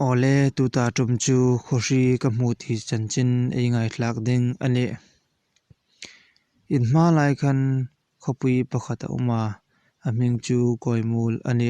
Awle, tuta ṭum chu khawhri ka hmu ti chanchin ei ngaihtlak ding a ni. In hma lai khan khawpui pakhat a awm a, a hming chu Kawimul a ni.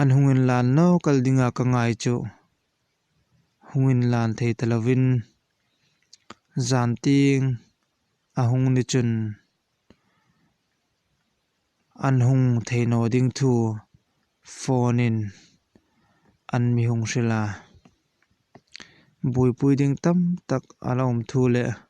An hungin lan lo kal dingah ka ngai chu hungin lan thei ta lovin zanting a hung ni chun an hung theihnaw ding thu phone-in an mi hung hrilh a, buaipui ding tam tak a la awm thu leh.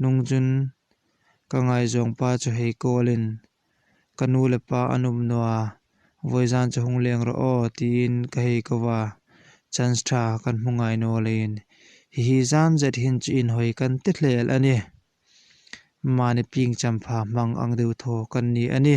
Nung chun ka ngaizawng pa chu hei call in, Ka nu le pa an awm nua, Vawizan chu hung leng rawh aw tiin ka hei ko va, chance tha kan hmu ngai nawlei in. Hihi zan zet hin chu inhawi kan ti hlel a ni. Mahni ping champha hmang ang deuh thaw kan ni a ni.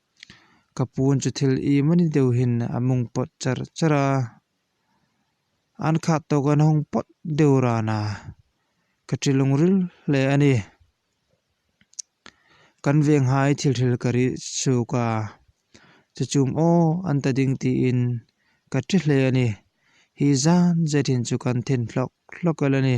Ka pu chu thil i mani deuh hian a mungpawt char char a, an khat tawk a nawng pawt deuh ran a, ka ṭhi lawng ril hle a ni. Kan venghai thil hril ka rih suk a, chu chum aw an ta ding tiin ka ṭhi hle a ni. Hi zan zet in chu kan thin hlawk hlawk alh a ni.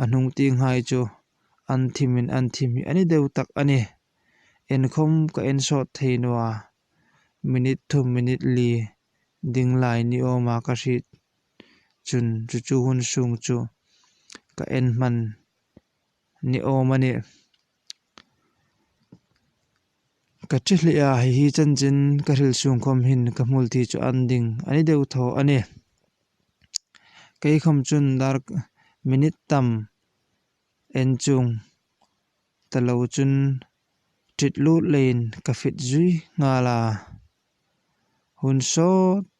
A hnung ti nghai chu an thimin an thi hmih a ni deuh tak a ni. Enkhawm ka en sawt thei nua, minute thum minute li ding lai ni awma ka hrih chun chu chu hun sung chu ka en hman ni awm a ni. Ka ṭhi hleh a, hei hi chanchin ka hril chhung khawm hin ka hmul tih chu an ding a ni deuh tho a ni. Kei khawm chun dar minute tam en chung ta lo chun ṭhit lut leiin ka fit zui nghal a, hun sawt